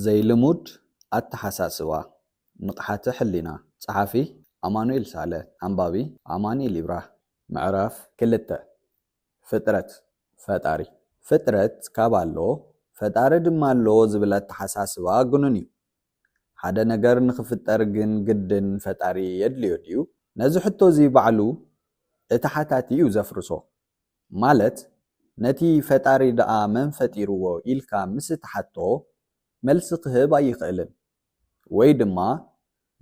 ዘይልሙድ ኣተሓሳስባ ንቕሓተ ሕሊና ጸሓፊ ኣማኑኤል ሳለ ኣንባቢ ኣማኒኤል ይብራህ ምዕራፍ ክልተ ፍጥረት ፈጣሪ ፍጥረት ካብ ኣሎ ፈጣሪ ድማ ኣሎ ዝብል ኣተሓሳስባ ግኑን እዩ። ሓደ ነገር ንኽፍጠር ግን ግድን ፈጣሪ የድልዮ ድዩ? ነዚ ሕቶ'ዚ ባዕሉ እቲ ሓታቲ እዩ ዘፍርሶ። ማለት ነቲ ፈጣሪ ደኣ መን ፈጢርዎ ኢልካ ምስ እትሓቶ መልሲ ክህብ ኣይኽእልን። ወይ ድማ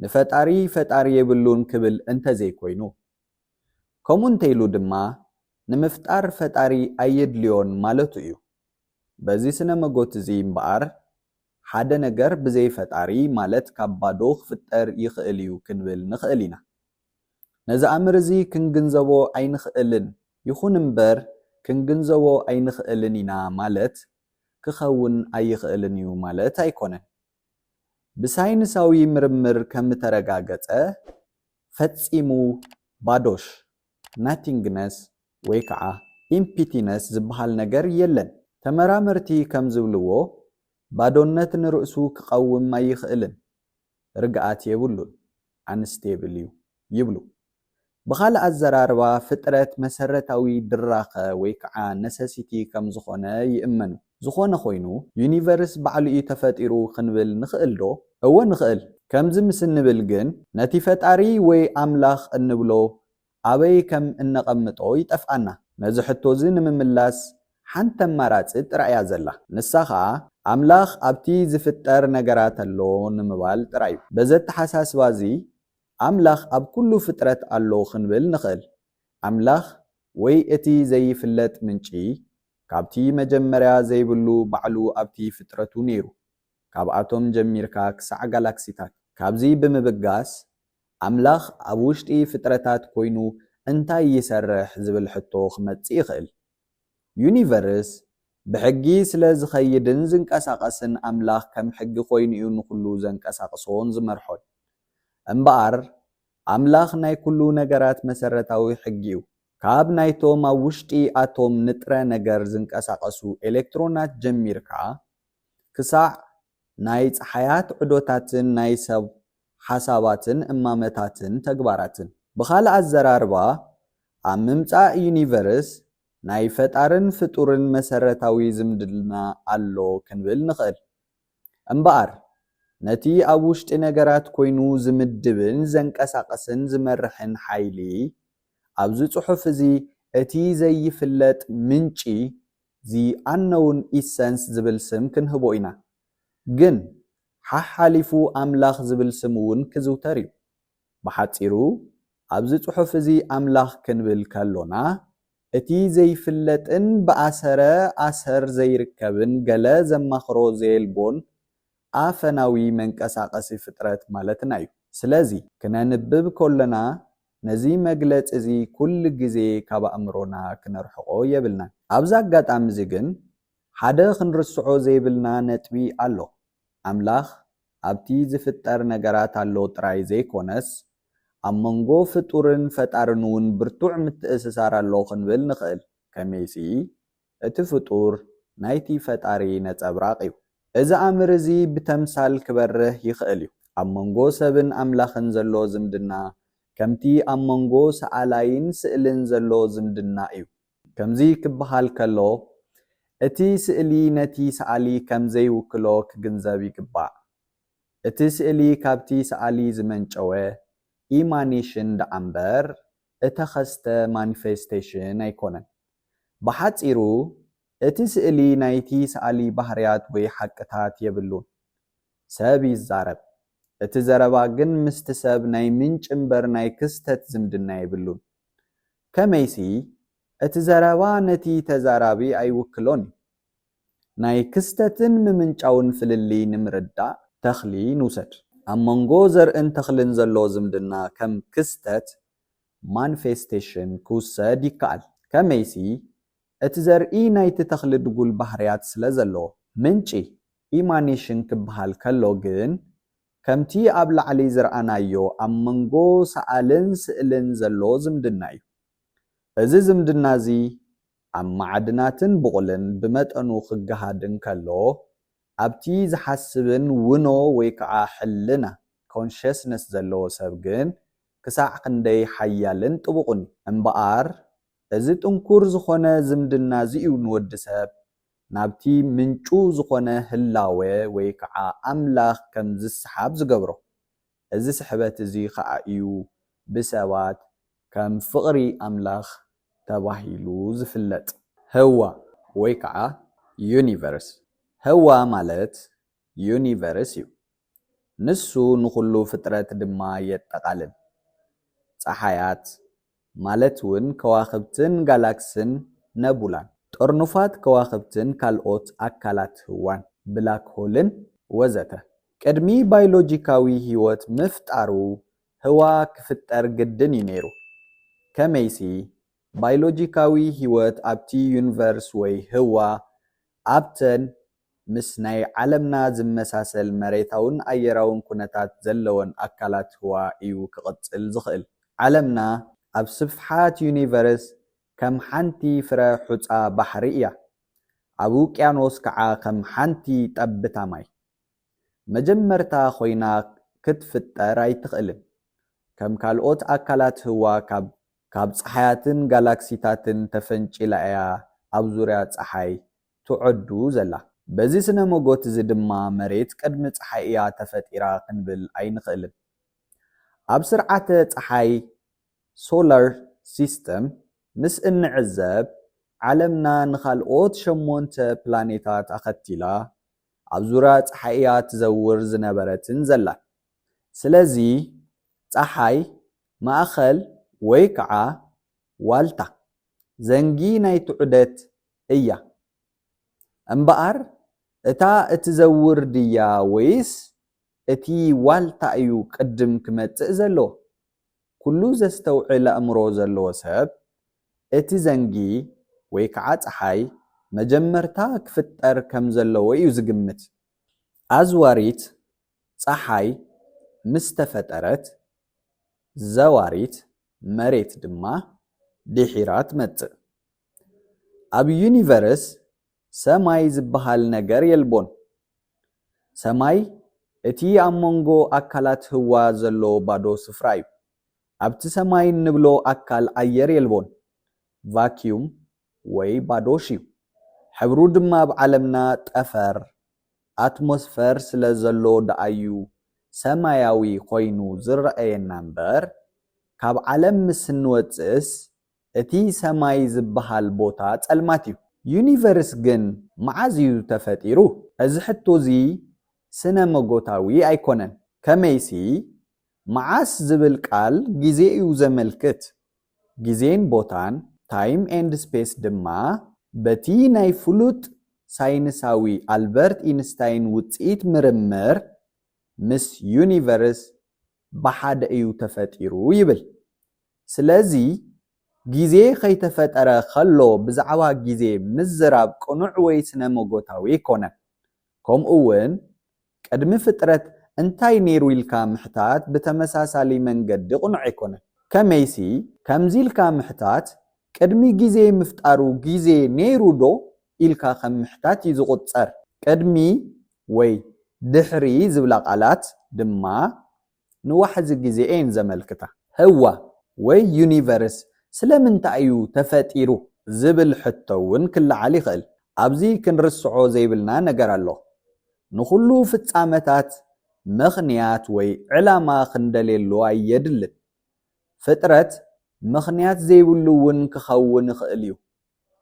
ንፈጣሪ ፈጣሪ የብሉን ክብል እንተ ዘይኮይኑ። ከምኡ እንተ ኢሉ ድማ ንምፍጣር ፈጣሪ ኣየድልዮን ማለቱ እዩ። በዚ ስነ መጎት እዚ እምበኣር ሓደ ነገር ብዘይ ፈጣሪ ማለት ካብ ባዶ ክፍጠር ይኽእል እዩ ክንብል ንኽእል ኢና። ነዚ ኣምር እዚ ክንግንዘቦ ኣይንኽእልን ይኹን እምበር ክንግንዘቦ ኣይንኽእልን ኢና ማለት ክኸውን ኣይኽእልን እዩ ማለት ኣይኮነን። ብሳይንሳዊ ምርምር ከምተረጋገጸ፣ ፈጺሙ ባዶሽ፣ Nothingness፣ ወይ ከኣ Emptiness ዝበሃል ነገር የለን። ተመራመርቲ ከም ዝብልዎ፣ ባዶነት ንርእሱ ክቐውም ኣይኽእልን፣ ርግኣት የብሉን። ኣንስቴብል እዩ ይብሉ። ብኻልእ ኣዘራርባ ፍጥረት መሰረታዊ ድራኸ ወይ ከዓ ነሰሲቲ ከም ዝኾነ ይእመኑ። ዝኾነ ኾይኑ ዩኒቨርስ ባዕሉ እዩ ተፈጢሩ ክንብል ንኽእል ዶ? እወ ንኽእል። ከምዚ ምስ እንብል ግን ነቲ ፈጣሪ ወይ ኣምላኽ እንብሎ ኣበይ ከም እነቐምጦ ይጠፍኣና። ነዚ ሕቶ'ዚ ንምምላስ ሓንቲ ኣማራጺ ጥራይ'ያ ዘላ። ንሳ ኸኣ ኣምላኽ ኣብቲ ዚፍጠር ነገራት ኣሎ ንምባል ጥራይ'ዩ። በዚ ኣተሓሳስባ'ዚ ኣምላኽ ኣብ ኵሉ ፍጥረት ኣሎ ክንብል ንኽእል። ኣምላኽ ወይ እቲ ዘይፍለጥ ምንጪ ካብቲ መጀመርያ ዘይብሉ ባዕሉ ኣብቲ ፍጥረቱ ነይሩ፣ ካብ ኣቶም ጀሚርካ ክሳዕ ጋላክሲታት። ካብዚ ብምብጋስ ኣምላኽ ኣብ ውሽጢ ፍጥረታት ኮይኑ እንታይ ይሰርሕ ዝብል ሕቶ ክመጽእ ይኽእል። ዩኒቨርስ ብሕጊ ስለ ዝኸይድን ዝንቀሳቐስን ኣምላኽ ከም ሕጊ ኮይኑ'ዩ ንኹሉ ዘንቀሳቕሶን ዝመርሖን። እምበኣር ኣምላኽ ናይ ኩሉ ነገራት መሰረታዊ ሕጊ'ዩ። ካብ ናይቶም ኣብ ውሽጢ ኣቶም ንጥረ ነገር ዝንቀሳቐሱ ኤለክትሮናት ጀሚርካ ክሳዕ ናይ ጸሓያት ዑደታትን ናይ ሰብ ሓሳባትን እማመታትን ተግባራትን። ብኻልእ ኣዘራርባ፣ ኣብ ምምጻእ ዩኒቨርስ ናይ ፈጣርን ፍጡርን መሰረታዊ ዝምድና ኣሎ ክንብል ንኽእል። እምበኣር፣ ነቲ ኣብ ውሽጢ ነገራት ኰይኑ ዝምድብን ዘንቀሳቕስን ዝመርሕን ሓይሊ፣ ኣብዚ ጽሑፍ እዚ እቲ ዘይፍለጥ ምንጪ The Unknown Essence ዝብል ስም ክንህቦ ኢና። ግን ሓሓሊፉ ኣምላኽ ዝብል ስም እውን ክዝውተር እዩ። ብሓጺሩ ኣብዚ ጽሑፍ እዚ ኣምላኽ ክንብል ከሎና እቲ ዘይፍለጥን ብኣሰረ ኣሰር ዘይርከብን ገለ ዘማኽሮ ዘየልቦን ኣፈናዊ መንቀሳቐሲ ፍጥረት ማለትና እዩ። ስለዚ ክነንብብ ከሎና ነዚ መግለጺ'ዚ ኩሉ ግዜ ካብ ኣእምሮና ክነርሕቖ የብልናን። ኣብዚ ኣጋጣሚ'ዚ ግን ሓደ ክንርስዖ ዘይብልና ነጥቢ ኣሎ። ኣምላኽ ኣብቲ ዝፍጠር ነገራት ኣሎ ጥራይ ዘይኮነስ፣ ኣብ መንጎ ፍጡርን ፈጣርን'ውን ብርቱዕ ምትእስሳር ኣሎ ክንብል ንኽእል። ከመይሲ፣ እቲ ፍጡር ናይቲ ፈጣሪ ነጸብራቕ እዩ። እዚ ኣምር እዚ ብተምሳል ክበርህ ይኽእል እዩ። ኣብ መንጎ ሰብን ኣምላኽን ዘሎ ዝምድና ከምቲ ኣብ መንጎ ሰኣላይን ስእልን ዘሎ ዝምድና እዩ። ከምዚ ክበሃል ከሎ እቲ ስእሊ ነቲ ሰኣሊ ከም ዘይውክሎ ክግንዘብ ይግባእ። እቲ ስእሊ ካብቲ ሰኣሊ ዝመንጨወ ኢማኔሽን ደኣምበር እተኸስተ ማኒፌስቴሽን ኣይኮነን። ብሓጺሩ እቲ ስእሊ ናይቲ ሰኣሊ ባህርያት ወይ ሓቅታት የብሉን። ሰብ ይዛረብ፣ እቲ ዘረባ ግን ምስቲ ሰብ ናይ ምንጪ እምበር ናይ ክስተት ዝምድና የብሉን። ከመይሲ እቲ ዘረባ ነቲ ተዛራቢ ኣይውክሎን እዩ። ናይ ክስተትን ምምንጫውን ፍልልይ ንምርዳእ ተኽሊ ንውሰድ። ኣብ መንጎ ዘርእን ተኽልን ዘሎ ዝምድና ከም ክስተት፣ ማንፌስቴሽን፣ ክውሰድ ይከኣል። ከመይሲ፣ እቲ ዘርኢ ናይቲ ተኽሊ ድጉል ባህርያት ስለ ዘለዎ። ምንጪ፣ ኢማኔሽን፣ ክበሃል ከሎ ግን፣ ከምቲ ኣብ ላዕሊ ዝረኣናዮ ኣብ መንጎ ሰኣልን ስእልን ዘሎ ዝምድና'ዩ። እዚ ዝምድና'ዚ ኣብ ማዕድናትን ብቑልን ብመጠኑ ክገሃድ እንከሎ፣ ኣብቲ ዝሓስብን ውኖ ወይ ከኣ ሕልና፣ Consciousness፣ ዘለዎ ሰብ ግን ክሳዕ ክንደይ ሓያልን ጥቡቕን እዩ። እምበኣር እዚ ጥንኩር ዝኾነ ዝምድናዚ'ዩ ንወዲ ሰብ ናብቲ ምንጩ ዝኾነ ህላወ ወይ ከኣ ኣምላኽ ከም ዝሰሓብ ዝገብሮ። እዚ ስሕበት እዚ ኸኣ እዩ ብሰባት ከም ፍቕሪ ኣምላኽ ተባሂሉ ዝፍለጥ። ህዋ ወይ ከዓ ዩኒቨርስ፣ ህዋ ማለት ዩኒቨርስ እዩ። ንሱ ንኹሉ ፍጥረት ድማ የጠቓልል። ፀሓያት፣ ማለት ውን ከዋኽብትን ጋላክስን ነቡላን፣ ጠርኑፋት ከዋኽብትን ካልኦት ኣካላት ህዋን፣ ብላክ ሆልን ወዘተ። ቅድሚ ባይሎጂካዊ ህይወት ምፍጣሩ ህዋ ክፍጠር ግድን ዩ ነይሩ። ከመይሲ ባይሎጂካዊ ህይወት ኣብቲ ዩኒቨርስ ወይ ህዋ ኣብተን ምስ ናይ ዓለምና ዝመሳሰል መሬታውን ኣየራውን ኩነታት ዘለወን ኣካላት ህዋ እዩ ክቕጽል ዝኽእል። ዓለምና ኣብ ስፍሓት ዩኒቨርስ ከም ሓንቲ ፍረ ሑጻ ባሕሪ እያ፣ ኣብ ውቅያኖስ ከኣ ከም ሓንቲ ጠብታ ማይ። መጀመርታ ኮይና ክትፍጠር ኣይትኽእልን። ከም ካልኦት ኣካላት ህዋ ካብ ካብ ጸሓያትን ጋላክሲታትን ተፈንጪላ እያ ኣብ ዙርያ ጸሓይ ትዖዱ ዘላ። በዚ ስነ ሞጎት እዚ ድማ መሬት ቅድሚ ጸሓይ እያ ተፈጢራ ክንብል ኣይንኽእልን። ኣብ ስርዓተ ጸሓይ፣ Solar System፣ ምስ እንዕዘብ፣ ዓለምና ንኻልኦት ሸሞንተ ፕላኔታት ኣኸቲላ ኣብ ዙርያ ጸሓይ እያ ትዘውር ዝነበረትን ዘላን። ስለዚ ጸሓይ ማእኸል ወይ ከዓ ዋልታ፣ ዘንጊ ናይቲ ዑደት እያ እምበኣር እታ እትዘውር ድያ ወይስ እቲ ዋልታ እዩ ቅድም ክመጽእ ዘለዎ? ኩሉ ዘስተውዕል ኣእምሮ ዘለዎ ሰብ እቲ ዘንጊ ወይ ከዓ ጸሓይ መጀመርታ ክፍጠር ከም ዘለዎ እዩ ዝግምት። ኣዝዋሪት ጸሓይ ምስ ተፈጠረት ዘዋሪት መሬት ድማ ድሒራ ትመጽእ። ኣብ ዩኒቨርስ ሰማይ ዝበሃል ነገር የልቦን። ሰማይ እቲ ኣብ መንጎ ኣካላት ህዋ ዘሎ ባዶ ስፍራ እዩ። ኣብቲ ሰማይ እንብሎ ኣካል ኣየር የልቦን፣ ቫክዩም ወይ ባዶ ሽዩ። ሕብሩ ድማ ኣብ ዓለምና ጠፈር፣ ኣትሞስፈር፣ ስለ ዘሎ ደኣዩ ሰማያዊ ኮይኑ ዝረኣየና እምበር ካብ ዓለም ምስ እንወጽእስ እቲ ሰማይ ዝበሃል ቦታ ጸልማት እዩ። ዩኒቨርስ ግን መዓዝ እዩ ተፈጢሩ? እዚ ሕቶ እዚ ስነ-መጎታዊ ኣይኮነን። ከመይሲ፣ መዓስ ዝብል ቃል ግዜ እዩ ዘመልክት። ግዜን ቦታን፣ ታይም ኤንድ ስፔስ፣ ድማ በቲ ናይ ፍሉጥ ሳይንሳዊ ኣልበርት ኢንስታይን ውጽኢት ምርምር ምስ ዩኒቨርስ ብሓደ እዩ ተፈጢሩ ይብል። ስለዚ ግዜ ከይተፈጠረ ከሎ ብዛዕባ ግዜ ምዝራብ ቅኑዕ ወይ ስነ-መጎታዊ ኣይኮነን። ከምኡ ውን ቅድሚ ፍጥረት እንታይ ነይሩ ኢልካ ምሕታት ብተመሳሳሊ መንገዲ ቅኑዕ ኣይኮነን። ከመይሲ ከምዚ ኢልካ ምሕታት ቅድሚ ግዜ ምፍጣሩ ግዜ ነይሩ ዶ ኢልካ ከም ምሕታት እዩ ዝቑጸር። ቅድሚ ወይ ድሕሪ ዝብላ ቃላት ድማ ንዋሕዚ ግዜ እየን ዘመልክታ። ህዋ ወይ ዩኒቨርስ ስለምንታይ እዩ ተፈጢሩ ዝብል ሕቶ እውን ክለዓል ይኽእል። ኣብዚ ክንርስዖ ዘይብልና ነገር ኣሎ። ንኹሉ ፍጻመታት ምኽንያት ወይ ዕላማ ክንደልየሉ ኣየድልን። ፍጥረት ምኽንያት ዘይብሉ እውን ክኸውን ይኽእል እዩ።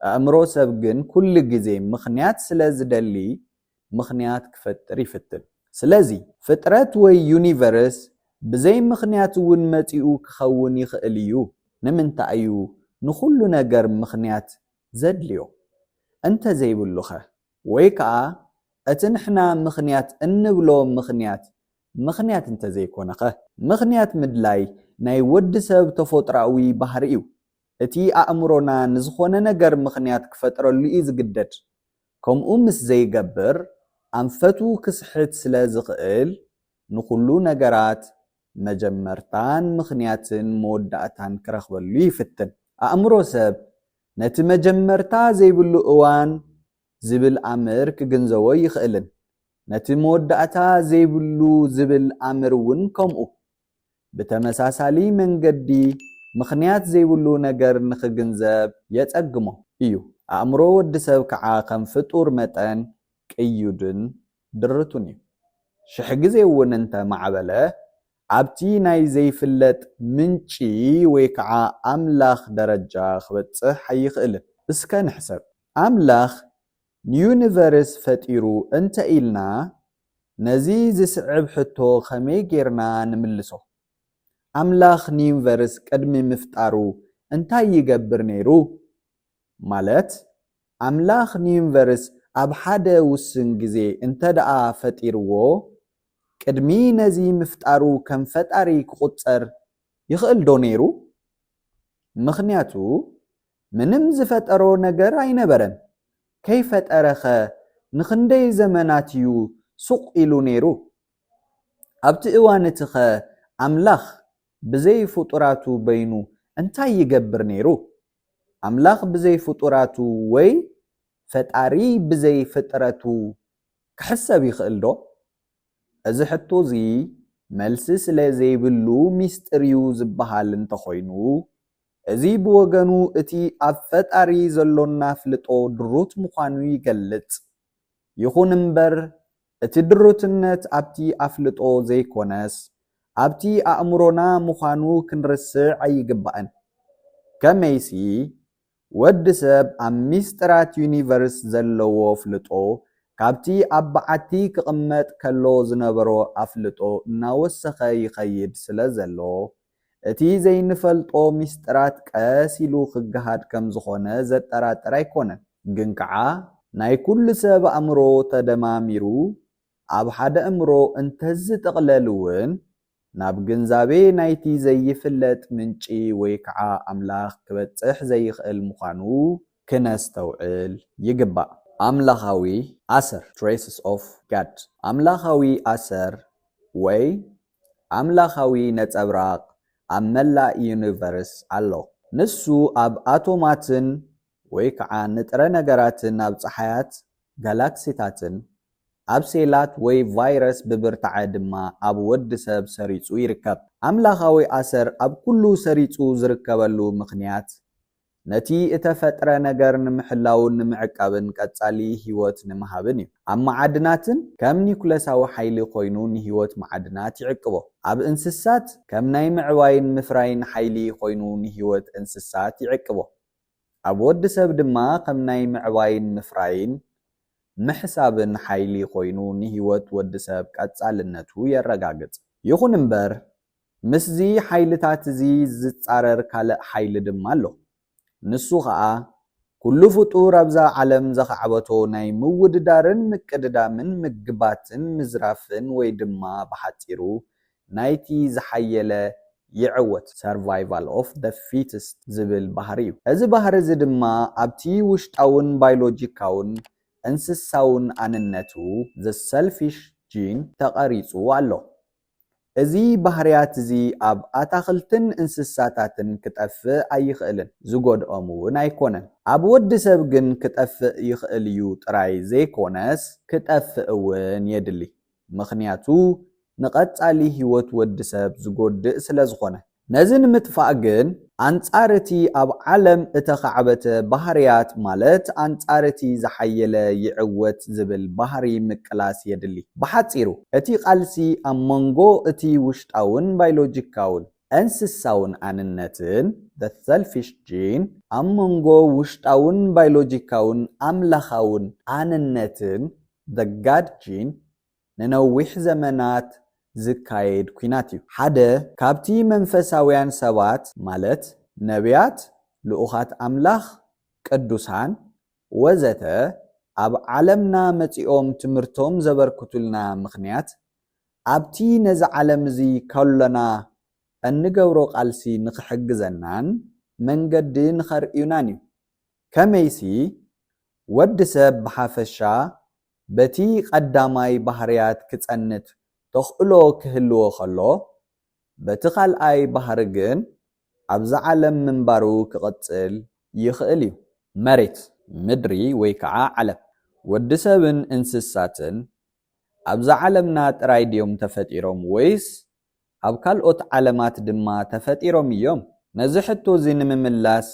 ኣእምሮ ሰብ ግን ኩሉ ግዜ ምኽንያት ስለ ዝደሊ ምኽንያት ክፈጥር ይፍትን። ስለዚ ፍጥረት ወይ ዩኒቨርስ ብዘይ ምኽንያት እውን መጺኡ ክኸውን ይኽእል እዩ። ንምንታይ እዩ ንኹሉ ነገር ምኽንያት ዘድልዮ? እንተ ዘይብሉኸ? ወይ ከኣ እቲ ንሕና ምኽንያት እንብሎ ምኽንያት ምኽንያት እንተዘይኮነኸ? ምኽንያት ምድላይ ናይ ወዲ ሰብ ተፎጥሮኣዊ ባህሪ'ዩ። እቲ ኣእምሮና ንዝኾነ ነገር ምኽንያት ክፈጥረሉ'ዩ ዝግደድ። ከምኡ ምስ ዘይገብር ኣንፈቱ ክስሕት ስለ ዝኽእል፣ ንኹሉ ነገራት መጀመርታን ምኽንያትን መወዳእታን ክረኽበሉ ይፍትን። ኣእምሮ ሰብ ነቲ መጀመርታ ዘይብሉ እዋን ዝብል ኣምር ክግንዘቦ ይኽእልን ነቲ መወዳእታ ዘይብሉ ዝብል ኣምር እውን ከምኡ። ብተመሳሳሊ መንገዲ ምኽንያት ዘይብሉ ነገር ንኽግንዘብ የጸግሞ እዩ። ኣእምሮ ወዲ ሰብ ከዓ ከም ፍጡር መጠን ቅዩድን ድርቱን እዩ። ሽሕ ግዜ እውን እንተ ማዕበለ ኣብቲ ናይ ዘይፍለጥ ምንጪ ወይ ከዓ ኣምላኽ ደረጃ ክበጽሕ ኣይኽእልን። እስከ ንሕሰብ፣ ኣምላኽ ንዩኒቨርስ ፈጢሩ እንተ ኢልና፣ ነዚ ዝስዕብ ሕቶ ከመይ ጌርና ንምልሶ? ኣምላኽ ንዩኒቨርስ ቅድሚ ምፍጣሩ እንታይ ይገብር ነይሩ? ማለት ኣምላኽ ንዩኒቨርስ ኣብ ሓደ ውሱን ግዜ እንተድኣ ፈጢርዎ፣ ቅድሚ ነዚ ምፍጣሩ ከም ፈጣሪ ክቑጸር ይኽእልዶ ነይሩ? ምኽንያቱ ምንም ዝፈጠሮ ነገር ኣይነበረን። ከይፈጠረኸ ንኽንደይ ዘመናት'ዩ ሱቕ ኢሉ ነይሩ? ኣብቲ እዋን'ቲኸ ኣምላኽ ብዘይ ፍጡራቱ በይኑ እንታይ ይገብር ነይሩ? ኣምላኽ ብዘይ ፍጡራቱ ወይ ፈጣሪ ብዘይ ፍጥረቱ ክሕሰብ ይኽእልዶ? እዚ ሕቶ እዚ መልሲ ስለ ዘይብሉ ሚስጢር'ዩ ዝበሃል እንተኾይኑ፣ እዚ ብወገኑ እቲ ኣብ ፈጣሪ ዘሎና ኣፍልጦ ድሩት ምዃኑ ይገልጽ። ይኹን እምበር እቲ ድሩትነት ኣብቲ ኣፍልጦ ዘይኮነስ ኣብቲ ኣእምሮና ምዃኑ ክንርስዕ ኣይግባእን። ከመይሲ ወዲ ሰብ ኣብ ሚስጢራት ዩኒቨርስ ዘለዎ ኣፍልጦ ካብቲ ኣብ በዓቲ ክቕመጥ ከሎ ዝነበሮ ኣፍልጦ እናወሰኸ ይኸይድ ስለዘሎ፣ እቲ ዘይንፈልጦ ሚስጥራት ቀስ ኢሉ ክገሃድ ከም ዝኾነ ዘጠራጥር ኣይኮነን። ግን ከኣ ናይ ኩሉ ሰብ ኣእምሮ ተደማሚሩ ኣብ ሓደ እምሮ እንተዝጥቕለል እውን ናብ ግንዛቤ ናይቲ ዘይፍለጥ ምንጪ ወይ ከኣ ኣምላኽ ክበጽሕ ዘይኽእል ምዃኑ ክነስተውዕል ይግባእ። ኣምላኻዊ ኣሰር፣ Traces of God፣ ኣምላኻዊ ኣሰር ወይ ኣምላኻዊ ነጸብራቕ ኣብ መላእ ዩኒቨርስ ኣሎ። ንሱ ኣብ ኣቶማትን ወይ ከኣ ንጥረ ነገራትን ኣብ ጸሓያት፣ ጋላክሲታትን፣ ኣብ ሴላት ወይ ቫይረስ ብብርታዐ ድማ ኣብ ወዲ ሰብ ሰሪጹ ይርከብ። ኣምላኻዊ ኣሰር ኣብ ኩሉ ሰሪጹ ዝርከበሉ ምኽንያት ነቲ እተፈጥረ ነገር ንምሕላውን ንምዕቃብን ቀጻሊ ህይወት ንምሃብን እዩ። ኣብ መዓድናትን ከም ኒዩክለሳዊ ሓይሊ ኮይኑ ንህይወት መዓድናት ይዕቅቦ። ኣብ እንስሳት ከም ናይ ምዕባይን ምፍራይን ሓይሊ ኮይኑ ንህይወት እንስሳት ይዕቅቦ። ኣብ ወዲ ሰብ ድማ ከም ናይ ምዕባይን ምፍራይን ምሕሳብን ሓይሊ ኮይኑ ንህይወት ወዲ ሰብ ቀጻልነቱ የረጋግጽ። ይኹን እምበር ምስዚ ሓይልታት'ዚ ዚጻረር ካልእ ሓይሊ ድማ ኣሎ። ንሱ ኸኣ፣ ኵሉ ፍጡር ኣብዛ ዓለም ዘኻዕበቶ ናይ ምውድዳርን ምቅድዳምን ምግባትን ምዝራፍን ወይ ድማ ብሓጺሩ ናይቲ ዝሓየለ ይዕወት፣ Survival of the Fittest፣ ዚብል ባህሪ'ዩ። እዚ ባህሪ'ዚ ድማ ኣብቲ ውሽጣውን ባይሎጂካውን እንስሳውን ኣንነቱ፣ The Selfish Gene፣ ተቐሪጹ ኣሎ። እዚ ባህርያት'ዚ ኣብ ኣታኽልትን እንስሳታትን ክጠፍእ ኣይኽእልን፣ ዝጎድኦም'ውን ኣይኮነን። ኣብ ወድሰብ ግን ክጠፍእ ይኽእል'ዩ ጥራይ ዘይኮነስ ክጠፍእ'ውን የድሊ። ምኽንያቱ ንቐጻሊ ህይወት ወድሰብ ዝጎድእ ስለዝኾነ። ነዚ ንምጥፋእ ግን ኣንጻር እቲ ኣብ ዓለም እተኻዕበተ ባህርያት ማለት ኣንጻር እቲ ዝሓየለ ይዕወት ዝብል ባህሪ ምቅላስ የድሊ። ብሓጺሩ እቲ ቃልሲ ኣብ መንጎ እቲ ውሽጣውን ባይሎጂካውን፣ እንስሳውን ኣንነትን፣ the selfish gene፣ ኣብ መንጎ ውሽጣውን ባይሎጂካውን፣ ኣምላኻውን ኣንነትን፣ the God gene፣ ንነዊሕ ዘመናት ዝካየድ ኲናት እዩ። ሓደ ካብቲ መንፈሳውያን ሰባት ማለት ነብያት፣ ልኡኻት ኣምላኽ፣ ቅዱሳን፣ ወዘተ ኣብ ዓለምና መጺኦም ትምህርቶም ዘበርክቱልና ምኽንያት፣ ኣብቲ ነዚ ዓለም እዚ ከሎና እንገብሮ ቃልሲ ንኽሕግዘናን መንገዲ ንኸርእዩናን እዩ። ከመይሲ፣ ወዲ ሰብ ብሓፈሻ በቲ ቐዳማይ ባህርያት ክጸንት ተኽእሎ ክህልዎ ከሎ፣ በቲ ካልኣይ ባህሪ ግን ኣብዛ ዓለም ምንባሩ ክቕጽል ይኽእል እዩ። መሬት፣ ምድሪ ወይ ከኣ ዓለም፣ ወዲ ሰብን እንስሳትን ኣብዛ ዓለምና ጥራይ ድዮም ተፈጢሮም ወይስ ኣብ ካልኦት ዓለማት ድማ ተፈጢሮም ኢዮም? ነዚ ሕቶ እዚ ንምምላስ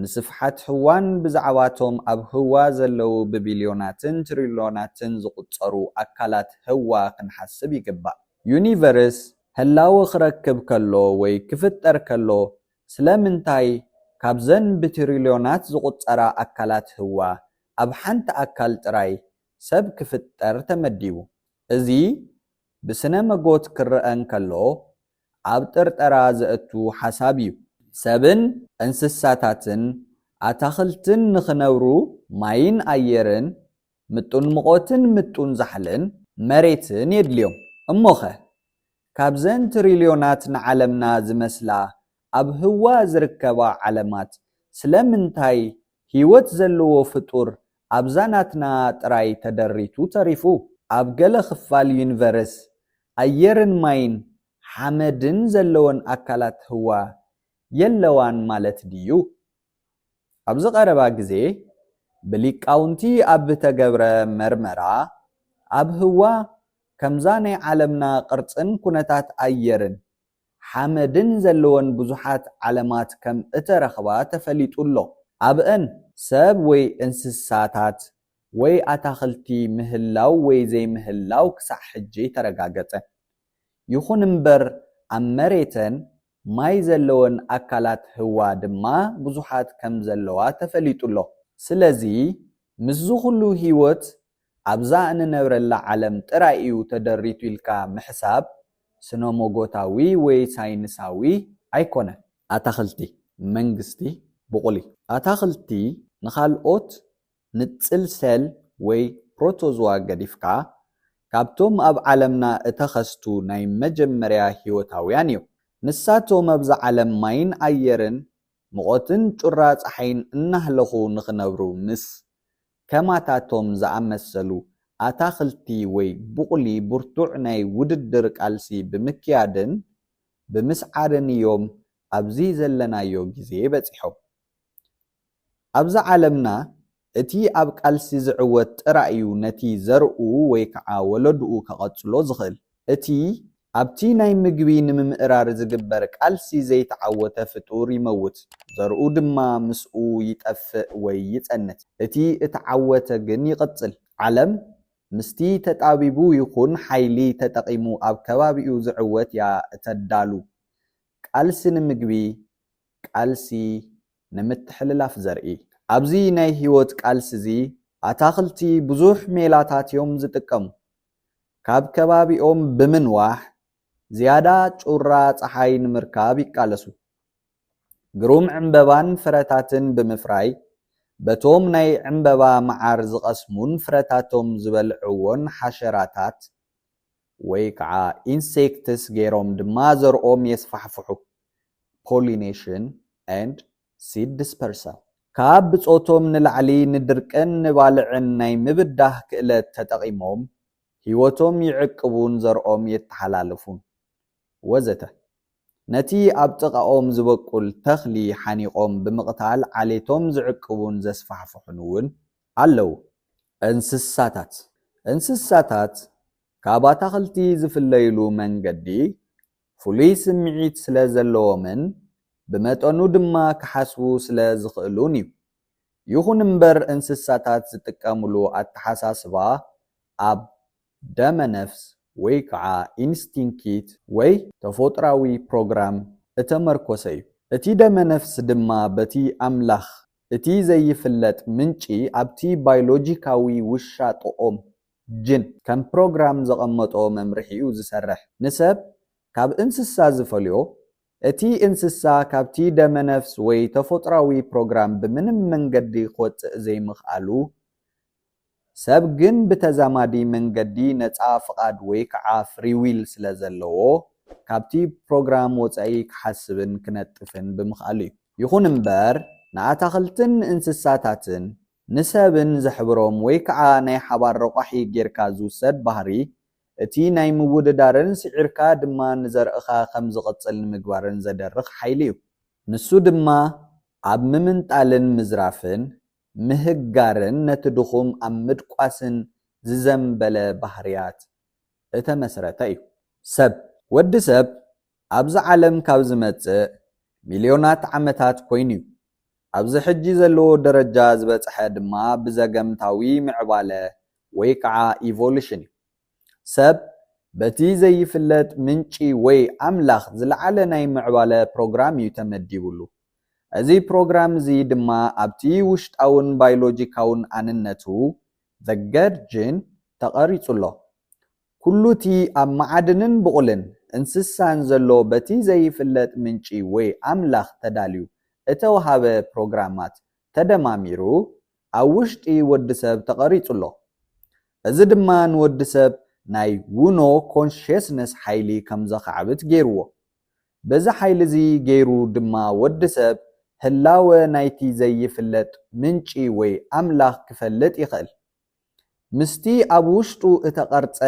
ንስፍሓት ህዋን ብዛዕባ'ቶም ኣብ ህዋ ዘለዉ ብቢልዮናትን ትሪልዮናትን ዝቝጸሩ ኣካላት ህዋ ክንሓስብ ይግባእ። ዩኒቨርስ ህላወ ክረክብ ከሎ ወይ ክፍጠር ከሎ ስለምንታይ ካብዘን ብትሪልዮናት ዝቝጸራ ኣካላት ህዋ ኣብ ሓንቲ ኣካል ጥራይ ሰብ ክፍጠር ተመዲቡ? እዚ ብስነ መጎት ክረኣ እንከሎ ኣብ ጥርጠራ ዘእቱ ሓሳብ እዩ። ሰብን እንስሳታትን ኣታኽልትን ንኽነብሩ ማይን ኣየርን፣ ምጡን ምቖትን ምጡን ዛሕልን መሬትን የድልዮም። እሞኸ ካብዘን ትሪልዮናት ንዓለምና ዝመስላ ኣብ ህዋ ዝርከባ ዓለማት ስለምንታይ ህይወት ዘለዎ ፍጡር ኣብዛ ናትና ጥራይ ተደሪቱ ተሪፉ? ኣብ ገለ ክፋል ዩኒቨርስ፣ ኣየርን ማይን ሓመድን ዘለወን ኣካላት ህዋ የለዋን ማለት ድዩ? ኣብዚ ቀረባ ግዜ ብሊቃውንቲ ኣብ ዝተገብረ መርመራ፣ ኣብ ህዋ ከምዛ ናይ ዓለምና ቅርጽን ኩነታት ኣየርን ሓመድን ዘለወን ብዙሓት ዓለማት ከም እተረኽባ ተፈሊጡ ኣሎ። ኣብአን ሰብ ወይ እንስሳታት ወይ ኣታኽልቲ ምህላው ወይ ዘይምህላው ክሳዕ ሕጂ ኣይተረጋገጸን። ይኹን እምበር ኣብ መሬተን ማይ ዘለወን ኣካላት ህዋ ድማ ብዙሓት ከም ዘለዋ ተፈሊጡ ኣሎ። ስለዚ ምስዚ ኹሉ ህይወት ኣብዛ እንነብረላ ዓለም ጥራይ እዩ ተደሪቱ ኢልካ ምሕሳብ ስነሞጎታዊ ወይ ሳይንሳዊ ኣይኮነን። ኣታኽልቲ መንግስቲ ብቑሊ። ኣታኽልቲ ንኻልኦት ንጽል ሰል ወይ ፕሮቶዝዋ ገዲፍካ ካብቶም ኣብ ዓለምና እተኸስቱ ናይ መጀመርያ ህይወታውያን እዮም። ንሳቶም ኣብዛ ዓለም ማይን ኣየርን ሙቐትን ጩራ ጸሓይን እናህለኹ ንኽነብሩ ምስ ከማታቶም ዝኣመሰሉ ኣታኽልቲ ወይ ቡቕሊ ብርቱዕ ናይ ውድድር ቃልሲ ብምክያድን ብምስዓርን'ዮም ኣብዚ ዘለናዮ ግዜ በጺሖም። ኣብዛ ዓለምና እቲ ኣብ ቃልሲ ዝዕወት ጥራይ'ዩ ነቲ ዘርኡ ወይ ከዓ ወለድኡ ከቐጽሎ ዝኽእል። እቲ ኣብቲ ናይ ምግቢ ንምምእራር ዚግበር ቃልሲ ዘይተዓወተ ፍጡር ይመውት፣ ዘርኡ ድማ ምስኡ ይጠፍእ ወይ ይጸንት። እቲ እተዓወተ ግን ይቕጽል። ዓለም፣ ምስቲ ተጣቢቡ ይኹን ሓይሊ ተጠቒሙ ኣብ ከባቢኡ ዚዕወት እያ እተዳሉ። ቃልሲ ንምግቢ፣ ቃልሲ ንምትሕልላፍ ዘርኢ። ኣብዚ ናይ ህይወት ቃልሲዚ፣ ኣታኽልቲ ብዙሕ ሜላታት እዮም ዚጥቀሙ። ካብ ከባቢኦም ብምንዋሕ ዝያዳ ጩራ ጸሓይ ንምርካብ ይቃለሱ። ግሩም ዕምበባን ፍረታትን ብምፍራይ በቶም ናይ ዕምበባ መዓር ዝቐስሙን ፍረታቶም ዝበልዕዎን ሓሸራታት ወይ ከዓ ኢንሴክትስ ገይሮም ድማ ዘርኦም የስፋሕፍሑ፣ Pollination and ሲድ ድስፐርሳል፣ ካብ ብጾቶም ንላዕሊ ንድርቅን ንባልዕን ናይ ምብዳህ ክእለት ተጠቒሞም ህይወቶም ይዕቅቡን ዘርኦም የተሓላልፉን። ወዘተ ነቲ ኣብ ጥቓኦም ዝበቁል ተኽሊ ሓኒቖም ብምቕታል ዓሌቶም ዝዕቅቡን ዘስፋሕፍሑን እውን ኣለዉ። እንስሳታት፣ እንስሳታት ካብ ኣታኽልቲ ዝፍለይሉ መንገዲ ፍሉይ ስምዒት ስለ ዘለዎምን ብመጠኑ ድማ ክሓስቡ ስለ ዝኽእሉን እዩ። ይኹን እምበር እንስሳታት ዝጥቀምሉ ኣተሓሳስባ ኣብ ደመ-ነፍስ ወይ ከዓ ኢንስቲንኪት ወይ ተፎጥራዊ ፕሮግራም እተመርኮሰ እዩ። እቲ ደመ-ነፍስ ድማ በቲ ኣምላኽ እቲ ዘይፍለጥ ምንጪ ኣብቲ ባይሎጂካዊ ውሻጦኦም ጅን ከም ፕሮግራም ዘቐመጦ መምርሒ'ዩ ዝሰርሕ። ንሰብ ካብ እንስሳ ዝፈልዮ፣ እቲ እንስሳ ካብቲ ደመነፍስ ወይ ተፎጥራዊ ፕሮግራም ብምንም መንገዲ ክወጽእ ዘይምኽኣሉ፣ ሰብ ግን ብተዛማዲ መንገዲ ነጻ ፍቓድ ወይ ከዓ ፍሪ ዊል ስለ ዘለዎ ካብቲ ፕሮግራም ወጻኢ ክሓስብን ክነጥፍን ብምኽኣሉ'ዩ። ይኹን እምበር ንኣታኽልትን ንእንስሳታትን ንሰብን ዘሕብሮም ወይ ከዓ ናይ ሓባር ረቋሒ ጌርካ ዝውሰድ ባህሪ እቲ ናይ ምውድዳርን ስዒርካ ድማ ንዘርእኻ ከም ዝቕፅል ንምግባርን ዘደርኽ ሓይሊ እዩ። ንሱ ድማ ኣብ ምምንጣልን ምዝራፍን፣ ምህጋርን ነቲ ድኹም ኣብ ምድቋስን ዝዘምበለ ባህርያት እተመስረተ እዩ። ሰብ፣ ወዲ ሰብ ኣብዚ ዓለም ካብ ዝመጽእ ሚልዮናት ዓመታት ኮይኑ'ዩ። ኣብዚ ሕጂ ዘለዎ ደረጃ ዝበጽሐ ድማ ብዘገምታዊ ምዕባለ ወይ ከኣ ኢቮሉሽን'ዩ። ሰብ በቲ ዘይፍለጥ ምንጪ ወይ ኣምላኽ ዝለዓለ ናይ ምዕባለ ፕሮግራም'ዩ ተመዲቡሉ። እዚ ፕሮግራም እዚ ድማ ኣብቲ ውሽጣውን ባይሎጂካውን ኣንነቱ፣ The Gerd Gene፣ ተቐሪጹ'ሎ። ኩሉ እቲ ኣብ መዓድንን ብቑልን እንስሳን ዘሎ በቲ ዘይፍለጥ ምንጪ ወይ ኣምላኽ ተዳልዩ እተወሃበ ፕሮግራማት ተደማሚሩ ኣብ ውሽጢ ወዲ ሰብ ተቐሪጹ ኣሎ። እዚ ድማ ንወዲ ሰብ ናይ ውኖ ኮንሽየስነስ ሓይሊ ከም ዘኻዕብት ገይሩዎ። በዚ ሓይሊ እዚ ገይሩ ድማ ወዲ ሰብ ህላወ ናይቲ ዘይፍለጥ ምንጪ ወይ ኣምላኽ ክፈልጥ ይኽእል። ምስቲ ኣብ ውሽጡ እተቐርጸ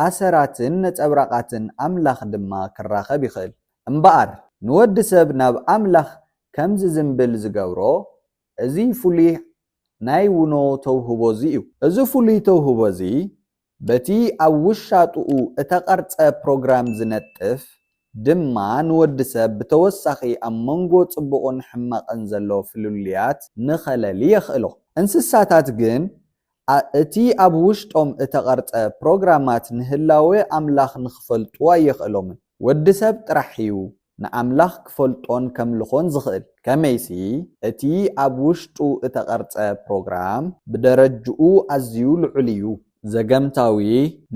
ኣሰራትን ነጸብራቓትን ኣምላኽ ድማ ክራኸብ ይኽእል። እምበኣር፣ ንወዲ ሰብ ናብ ኣምላኽ ከም ዚዝምብል ዚገብሮ፣ እዚ ፍሉይ ናይ ውኖ ተውህቦ እዚ እዩ። እዚ ፍሉይ ተውህቦ እዚ፣ በቲ ኣብ ውሻጥኡ እተቐርጸ ፕሮግራም ዚነጥፍ ድማ ንወዲ ሰብ ብተወሳኺ ኣብ መንጎ ጽቡቕን ሕማቕን ዘሎ ፍልልያት ንኸለሊ የኽእሎ። እንስሳታት ግን እቲ ኣብ ውሽጦም እተቐርጸ ፕሮግራማት ንህላወ ኣምላኽ ንኽፈልጡ ኣየኽእሎምን። ወዲ ሰብ ጥራሕ እዩ ንኣምላኽ ክፈልጦን ከምልኾን ዝኽእል። ከመይሲ እቲ ኣብ ውሽጡ እተቐርጸ ፕሮግራም ብደረጅኡ ኣዝዩ ልዑል እዩ። ዘገምታዊ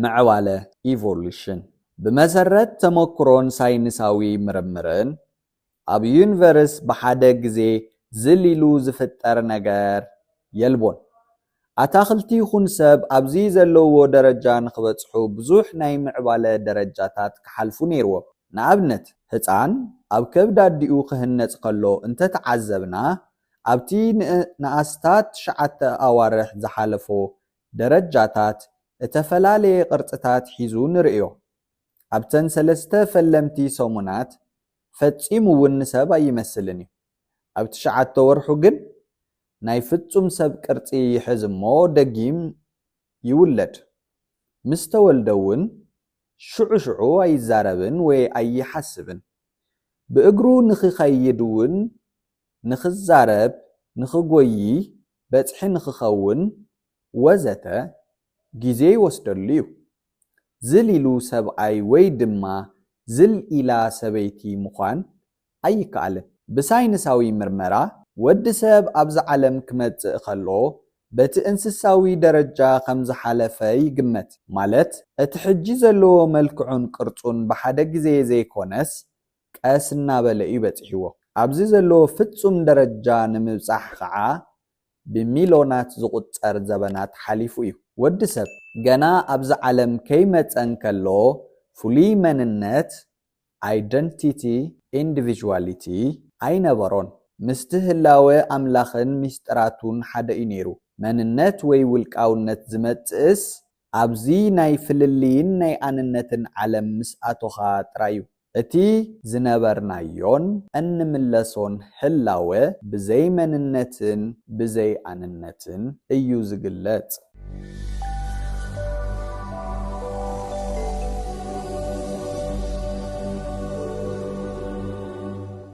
ምዕባለ፣ Evolution፣ ብመሰረት ተመኩሮን ሳይንሳዊ ምርምርን፣ ኣብ ዩኒቨርስ ብሓደ ግዜ ዝል ኢሉ ዝፍጠር ነገር የልቦን። ኣታኽልቲ ይኹን ሰብ ኣብዚ ዘለውዎ ደረጃ ንኽበጽሑ ብዙሕ ናይ ምዕባለ ደረጃታት ክሓልፉ ነይርዎም። ንኣብነት፣ ህጻን ኣብ ከብዲ ኣዲኡ ክህነጽ ከሎ እንተ ተዓዘብና፣ ኣብቲ ንኣስታት ትሽዓተ ኣዋርሕ ዝሓለፎ ደረጃታት እተፈላለየ ቅርጽታት ሒዙ ንርእዮ። ኣብተን ሰለስተ ፈለምቲ ሰሙናት ፈጺሙ ውን ንሰብ ኣይመስልን እዩ። ኣብ ትሽዓተ ወርሑ ግን ናይ ፍጹም ሰብ ቅርጺ ይሕዝ እሞ ደጊም ይውለድ። ምስ ተወልደ ውን ሽዑ ሽዑ ኣይዛረብን ወይ ኣይሓስብን። ብእግሩ ንኺኸይድ ውን ንኽዛረብ፣ ንኽጎዪ፣ በጽሒ ንኽኸውን፣ ወዘተ ግዜ ይወስደሉ'ዩ። ዝል ኢሉ ሰብኣይ ወይ ድማ ዝል ኢላ ሰበይቲ ምዃን ኣይከኣልን። ብሳይንሳዊ ምርመራ፣ ወዲ ሰብ ኣብዛ ዓለም ክመጽእ ከሎ በቲ እንስሳዊ ደረጃ ከም ዝሓለፈ ይግመት። ማለት እቲ ሕጂ ዘለዎ መልክዑን ቅርጹን ብሓደ ግዜ ዘይኮነስ ቀስ እናበለ እዩ በጺሕዎ። ኣብዚ ዘለዎ ፍጹም ደረጃ ንምብጻሕ ኸኣ ብሚልዮናት ዝቑጸር ዘበናት ሓሊፉ እዩ። ወዲ ሰብ ገና ኣብዚ ዓለም ከይመጸ እንከሎ ፍሉይ መንነት፣ Identity፣ Individuality፣ ኣይነበሮን። ምስቲ ህላወ ኣምላኽን ምስጢራቱን ሓደ እዩ ነይሩ። መንነት ወይ ውልቃውነት ዝመጽእስ ኣብዚ ናይ ፍልልይን ናይ ኣንነትን ዓለም ምስ ኣቶኻ ጥራዩ እቲ ዝነበርናዮን እንምለሶን ህላወ ብዘይ መንነትን ብዘይ ኣንነትን እዩ ዝግለጽ።